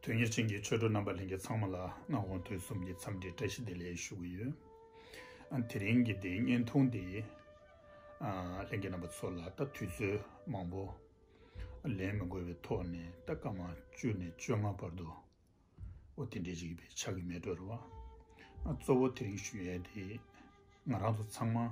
དོན་གཉེར་ཅན་གྱི་ཆོས་གྲོགས་རྣམ་པ་ལྷན་རྒྱས་ཚང་མ་ལ་མངའ་དབང་དུས་གསུམ་གྱི་འཚམས་འདྲིའི་བཀྲ་ཤིས་བདེ་ལེགས་ཞུ་གི་ཡོད། དེ་རིང་གི་འདི་བརྙན་ཐུང་འདི་ལྷན་རྒྱས་རྣམ་པ་ཚོ་ལ་ད་དུས་ཚོད་མང་པོ་ལེན་མི་དགོས་པའི་ཐོག་ནས་ད་སྐར་མ་བཅུ་ནས་བཅོ་ལྔ་བར་དུ་འོ་དེ་འདྲའི་རིགས་པའི་ཕྱག་གི་མེ་དྲོར་བ་གཙོ་བོ་དེ་རིང་ཞུ་ཡས་དེ་ང་རང་ཚོ་ཚང་མ།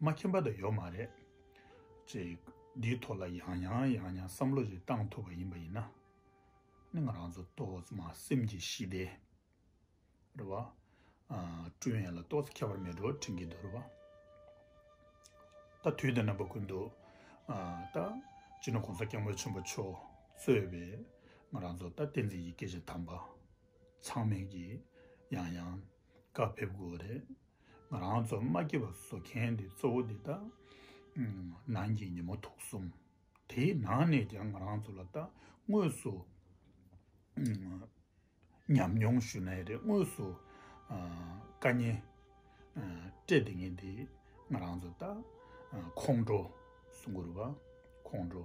མ་མཁྱེན་པ་དང་ཡོད་མ་རེད། ཅེས་འདིའི་ཐོག་ལ་ཡང་ཡང་ཡང་ཡང་བསམ་བློ་ཞིག་བཏང་ཐུབ་པ་ཡིན་པ་ཡིན་ན། ནི་ང་རང་ཚོ་ཏོག་ཙམ་མ་སེམས་ཀྱི་ཞི་བདེ་རེད་བ། བསྐྲུན་ཡས་ལ་ཏོག་ཙམ་ཁྱད་པར་མེད་འགྲོ་དྲན་གྱི་འདུག་རེད་བ། ད་དུས་དེ་ན་པ་ཀུན་ཏུ་ད་སྤྱིར་ན་གོང་ས་སྐྱབས་མགོན་ཆེན་པོ་མཆོག་གཙོས་པའི་ང་རང་ཚོ་ད་བསྟན་འཛིན་གྱི་སྐད་ཆ་དམ་པ་ཚང་མས་ཀྱིས་ཡང་ཡང་བཀའ་ཕེབས་དགོས་རེད། ང་རང་ཚོ་དམག་སྐྱིད་པ་བཟོ་མཁན་དེ་གཙོ་བོ་འདི་དག་ནང་གི་ཉིན་མོ་དུག་གསུམ་དེའི་ནང་ནས་ཀྱང་ང་རང་ཚོ་ལ་ད་དངོས་སུ་ཉམས་མྱོང་ཞུ་ན་ཡག་རེད་དངོས་སུ་དཀའ་ཉེན་སྤྲད་བསྡད་མཁན་དེ་ང་རང་ཚོ་ད་ཁོང་ཁྲོ་སུ་འགོ་རུ་བ་ཁོང་ཁྲོ།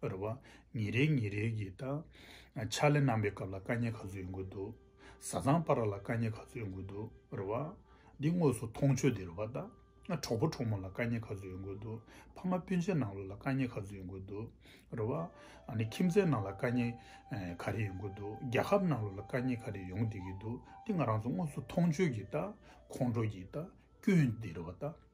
པར་བ། ཉིན་རེའི་ཉིན་རེའི་གི་ད། ཆ་ལེ་རྣམ་པའི་སྐབས་ལ་དཀའ་ཉེ་ག་ཚོད་ཡོང་གི་འདུག། བཟའ་ཚང་པར་བ་ལ་དཀའ་ཉེ་ག་ཚོད་ཡོང་གི་འདུག་པར་བ། འདི་དངོས་སུ་མཐོང་ཆོས་དེ་རེད་བ་ད། གྲོགས་པོ་གྲོགས་མོ་ལ་དཀའ་ཉེ་ག་ཚོད་ཡོང་གི་འདུག་ཕ་མ་སྤུན་མཆེད་ནང་ལོགས་ལ་དཀའ་ཉེ་ག་ཚོད་ཡོང་གི་འདུག་པར་བ། ཁྱིམ་མཚེས་ནང་ལ་དཀའ་ཉེ་ག་རེ་ཡོང་གི་འདུག་རྒྱལ་ཁབ་ནང་ལོགས་ལ་དཀའ་ཉེ་ག་རེ་ཡོང་བསྡད་ཀྱི་འདུག་འདི་ང་རང་ཚོ་དངོས་སུ་མཐོང་ཆོས་གི་ད། ཁོང་ཁྲོ་གི་ད། སྐྱོན་དེ་རེད་བ་ད།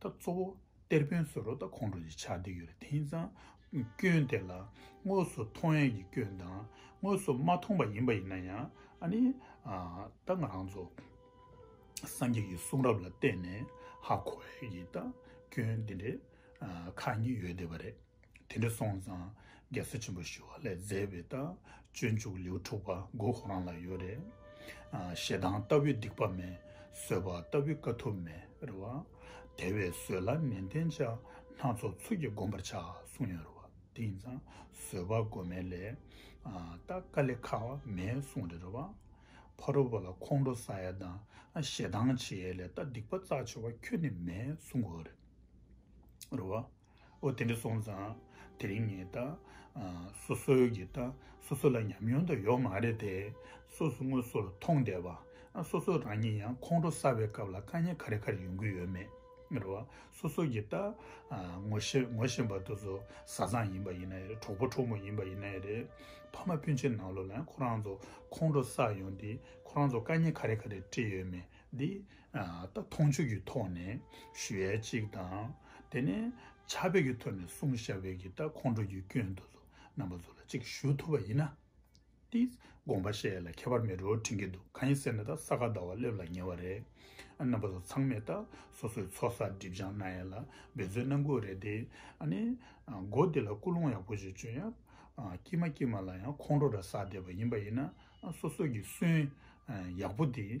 ད་གཙོ་བོ་གཏེར་དཔོན་ཟོར་རོ་དང་ཁོང་ཁྲོ་ཡི་ཆ་འདི་ཡོད་རེད་དེང་སང་སྐྱོན་དེ་ལ་དངོས་སུ་མཐོང་ཡས་ཀྱི་སྐྱོན་དང་དངོས་སུ་མ་མཐོང་པ་ཡིན་པ་ཡིན་ན་ཡང་ཨ་ནི་ད་ང་རང་ཚོ་སངས་རྒྱས་ཀྱི་གསུང་རབ་ལ་བལྟས་ནས་ཧ་གོ་ཡས་ཀྱི་ད་སྐྱོན་དེ་འདྲས་ཁག་གཉིས་ཡོད་བསྡད་པ་རེད། དེ་འདྲ་སོང་ཙང་རྒྱལ་སྲས་ཆེན་པོ་ཞི་བ་ལས་མཛད་པའི་རྟ་བཅོས་འཇུག་ལེའུ་དྲུག་པ་མགོ་ཁོ་རང་ལ་ཡོད་རེད། ཞེ་སྡང་ལྟ་བུའི་སྡིག་པ་མེད། བཟོད་པ་ལྟ་བུའི་དཀའ་ཐུབ་མེད་རེད་བ། དེ་བས་བཟོད་ལ་ནན་ཏན་བྱ། སྣ་ཚོགས་ཚུལ་གྱིས་བསྒོམ་པར་བྱ་གསུངས་ཡོད་རེད་བ། དེ་ཡིན་ཙང་བཟོད་པ་བསྒོམ་མེད་ལས། རྟ་དཀའ་ལས་ཁག་མེད་གསུངས་རེད་བ། ཕ་རོལ་པོ་ལ་ཁོང་ཁྲོ་ཟ་ཡས་དང་ཞེ་སྡང་བྱེད་ཡས་ལས་རྟ་སྡིག་པ་རྩ་ཆེ་བ་ཁྱོད་ནི་མེད་གསུངས་དགོས་རེད་བ། ཨོ་དེ་འདྲ་སོང་ཙང་དེ་རིང་ངས་ད་སོ་སོ་གི་ད་སོ་སོ་ལ་ཉམས་མྱོང་དང་ཡོག་མ་རེད་དེ་སོ་སོ་དངོས་སོ་ལ་མཐོང་བསྡད་པ་སོ་སོ་རང་ཉིད་ཡང་ཁོང་ཁྲོ་ས་བའི་སྐབས་ལ་དཀའ་ཉེ་ག་རེ་ག་རེ་ཡོང་གི་ཡོད་མེད་རེད་བ་སོ་སོ་གི་ད་ངོ་ཤེས་ངོ་ཤེས་པ་དུ་སོ་ས་ཚང་ཡིན་པ་ཡིན་ན་རེད་གྲོགས་པོ་གྲོགས་མོ་ཡིན་པ་ཡིན་ན་རེད་ཕ་མ་སྤུན་ཆེད་ནང་ལོག་ལ་ཁོ་རང་ཚོ་ཁོང་ཁྲོ་ས་ཡོང་དེ་ཁོ་རང་ཚོ་དཀའ་ཉེ་ག་རེ་ག་རེ་བཀྲི་ཡོད་མེད་དེ་མཐོང་ཆོས་ཀྱི་ཐོག་ནས་ཞུ་ཡ་གཅིག་དང། དེ་ནས་བྱ་བེད་ཀྱི་ཐོག་ནས་གསུང་ཞབས་བེད་ཀྱི་ད་ཁོང་ཁྲོ་ཀྱི་སྐྱོན་དུ་རྣམ་པ་ཚོ་ལ་གཅིག་ཞུ་ཐུབ་པ་ཡིན་ན། དེ་དགོངས་པ་བཞེས་ལ་ཁྱད་པར་མེད་རོ་དྲན་གྱི་འདུག་གང་ཡིན་ཟེར་ན་ད་ས་ག་ཟླ་བ་སླེབས་ལ་ཉེ་བ་རེད། རྣམ་པ་ཚོ་ཚང་མས་ད་སོ་སོའི་ཚོགས་བསགས་སྒྲིབ་སྦྱང་གནང་ཡ་ལ་འབད་རྩོལ་གནང་དགོས་རེད་དེ། མགོ་བདེ་ལ་སྐུ་ལུང་ཡག་པོ་ཞིག་བྱོས་ཡ། སྐྱིད་མ་སྐྱིད་མ་ལ་ཡང་ཁོང་ཁྲོ་ར་བསགས་བསྡད་པ་ཡིན་པ་ཡིན་ན་སོ་སོ་ཀྱི་སུན་ཡག་པོ་དེ་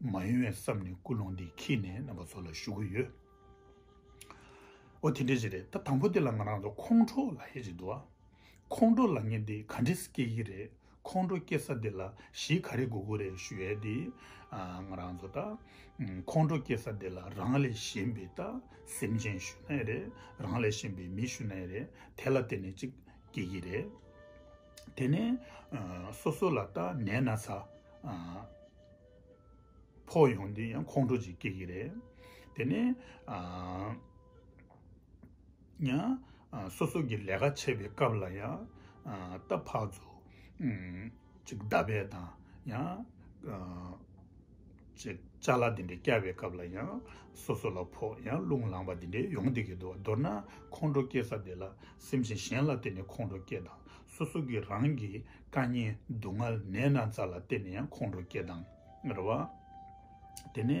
མ་ཡིན་བས་བསམ་ནས་སྐུལ་སློང་འདི་ཁྱེད་ནས་རྣམ་པ་ཚོ་ལ་ཞུ་གི་ཡོད། འོ་དེ་འདྲ་ཞིག་རེད་ད་དང་པོ་དེ་ལ་ང་རང་ཚོ་ཁོང་ཁྲོ་ལ་ཧད་ཅིག་འདུག་ཨ། ཁོང་ཁྲོ་ལ་ངས་འདི་ག་འདྲས་སྐྱེ་གི་རེད་ཁོང་ཁྲོ་སྐྱེ་ས་འདི་ལ་གཞི་ག་རེ་དགོས་དགོས་རེད་ཞུ་ཡས་འདི། ང་རང་ཚོ་ད། ཁོང་ཁྲོ་སྐྱེ་ས་འདི་ལ་རང་ལས་གཞན་པའི་ད་སེམས་ཅན་ཞུ་ན་ཡས་རེད་རང་ལས་གཞན་པའི་མི་ཞུ་ན་ཡས་རེད་དེ་ལ་བརྟེན་ནས་ཅིག་སྐྱེ་གི་རེད། དེ་ནས་སོ་སོ་ལ་ལྟ་ནས་ན་ཚ་ཕོག་ཡོང་དེ་ཡང་ཁོང་ཁྲོ་ཅིག་སྐྱེ་གི་རེད་དེ་ནས་ཡང་སོ་སོ་གི་ལས་ཀ་བྱེད་པའི་སྐབས་ལ་ཡང་རྟ་ཕག་ཚོ་ཅིག་རྡ་བལ་དང་ཡང་ཅེས་བཅའ་སླ་དེ་འདྲའི་བསྐྱལ་བའི་སྐབས་ལ་ཡང། སོ་སོ་ལ་ཕོག་ཡང་རླུང་ལངས་པ་དེ་འདྲའི་ཡོང་སྡིག་གི་འདུག་མདོར་ན་ཁོང་ཁྲོ་སྐྱེས་ས་དེ་ལ་སེམས་ཤིང་གཞན་ལ་བརྟེན་ནས་ཁོང་ཁྲོ་སྐྱེ་དང་སོ་སོ་གིས་རང་གི་དཀའ་ཉེན་སྡུག་བསྔལ་ནད་ན་ཚ་ལ་བརྟེན་ནས་ཡང་ཁོང་ཁྲོ་སྐྱེ་དང་རེད་བ། དེ་ནས།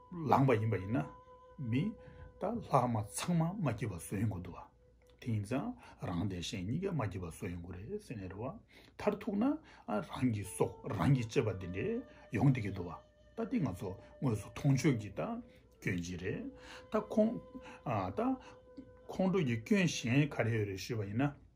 ལངས་པ་ཡིན་པ་ཡིན་ན། མི། དང་ལྷག་མ་ཚང་མ་མ་སྐྱེས་པ་བཟོ་ཡོང་གི་འདུག་བ། དེ་ཡིན་ཙང་རང་དེ་གཞན་གཉིས་ཀ་མ་སྐྱེས་པ་བཟོ་ཡོང་གི་རེད་ཟེར་ནས་རེད་བ། མཐར་ཐུག་ན་རང་གི་སྲོག་རང་གིས་བཅད་པ་དེ་འདྲས་ཡོང་བསྡད་ཀྱི་འདུག་བ། ད་དེ་ང་ཚོ་དངོས་སུ་མཐོང་ཆོས་ཀྱི་ད་སྐྱོན་གྱིས་རེད། ད་ཁོང། ད། ཁོང་ཁྲོ་ཀྱི་སྐྱོན་གཞན་ག་རེ་ཡོད་རེད་ཞུས་པ་ཡིན་ན།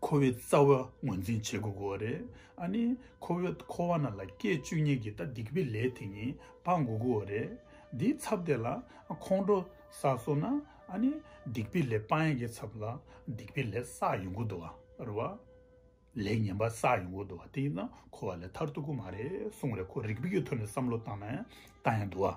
ཁོ་བོའི་རྩ་བ་ངོས་འཛིན་བྱེད་དགོས་གོ་རེད་ཨ་ནི་ཁོ་བོས་ཁོ་བ་ན་ལ་སྐད་བཅུ་གཉིས་ཀྱི་ད་དིག་པའི་ལས་དེ་གཉིས་སྤང་དགོས་གོ་རེད་དེའི་ཚབ་དེ་ལ་ཁོང་ཁྲོ་ས་སོ་ན་ཨ་ནི་སྡིག་པའི་ལས་སྤང་ཡ་གི་ཚབ་ལ་སྡིག་པའི་ལས་བསགས་ཡོང་གོ་དོ་བ་རེད་ལས་ངན་པ་བསགས་ཡོང་གོ་དོ་བ་དེ་ཡིན་ན་ཁོ་བ་ལས་ཐར་ཐུག་གོ་མ་རེད་གསུངས་རེད་ཁོ་རིག་པའི་ཐོག་ནས་བསམ་བློ་བཏང་ན་ཡང་བཏང་ཡ་དོ་བ།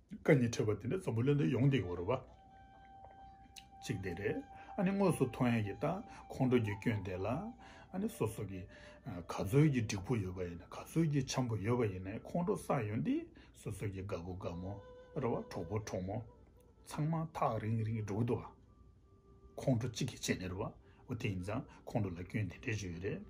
བཀའ་ནི་ཁྲོས་པ་དེ་འདྲ་རྩོམ་པོ་ལོན་དུ་ཡོང་སྟེ་འོར་བ་གཅིག་དེ་རེད་ཨ་ནི་དངོས་སུ་ཐོ་ཡན་གྱི་རྟ་ཁོང་ཁྲོ་རྒྱུ་སྐྱོན་དེ་ལ་ཨ་ནི་སོ་སོ་གི་ག་ཚོད་ཀྱི་འགྲིག་པོ་ཡོད་པ་ཡིན་ན་ག་ཚོད་ཀྱི་འཆམ་པོ་ཡོད་པ་ཡིན་ན་ཁོང་ཁྲོ་བསགས་ཡོང་སྟེ་སོ་སོ་གི་དགའ་བོ་དགའ་མོ་ར་བ་གྲོགས་པོ་གྲོགས་མོ་ཚང་མ་ཐག་རིང་རིང་འགྲོ་གི་འདུག་ཨ་ཁོང་ཁྲོ་གཅིག་གི་ཆེད་ནས་རེད་བ་འོ་དེ་ཡིན་ཙང་ཁོང་ཁྲོ་ལ་སྐྱོན་དེ་འདྲས་བྱུང་ཡོད་རེད།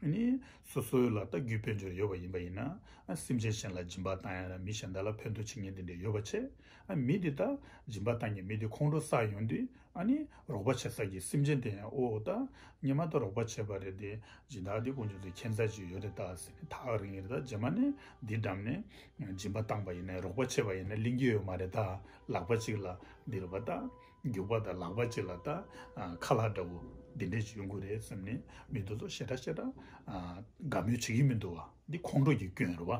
ནི། སོ་སོའི་ལ་རྟགས་རྒྱུའི་དཔལ་འབྱོར་ཡོད་པ་ཡིན་པ་ཡིན་ན། སེམས་ཅན་གཞན་ལ་སྦྱིན་པ་བཏང་ཡང་ར་མི་གཞན་དག་ལ་ཕན་ཐོགས་བྱེད་ཉེན་དེ་འདྲའི་ཡོད་པ་ཆེ། མི་དེ་དག་སྦྱིན་པ་བཏང་ཀྱང་མི་དེ་ཁོང་ཁྲོ་ས་ཡོང་དུས། ནི། རོགས་པ་བྱེད་ས་ཀྱི་སེམས་ཅན་དེ་ཡང་ཨོ་ཨོ་ད། ངས་མ་མཐའ་རོགས་པ་བྱས་པ་རེད་དེ། སྦྱིན་བདག་དེ་ཀུན་ཆུང་ཚེ་ཁྱད་མཚར་ཅིག་ཡོད་དེ་བལྟ་ཟེར་ནས་ཐག་རིང་རེ་ད་རྗེས་མ་ནས་འདི་འགྲམ་ནས། སྦྱིན་པ་བཏང་པ་ཡིན་ནས་རོགས་པ་བྱས་པ་ཡིན་ན་གླེང་རྒྱུ་ཡོད་མ་རེད་ད། ལག་པ་གཅིག་ལ་འདི་རུ་བལྟ། རྒྱུག་པ་དང་ལག་པ་གཅིག་ལ་ལྟ། ཁ་ལག་འདྲ་བོ་འདི་འདྲས་ཡོང་གི་རེད་བསམ་ནས་མི་འདུག་ལོ་ཞེ་དྲག་ཞེ་དྲག་དགའ་མོས་བྱེད་ཀྱི་མི་འདུག་བ་འདི་ཁོང་ཁྲོ་ཀྱི་སྐྱོན་རེད་བ།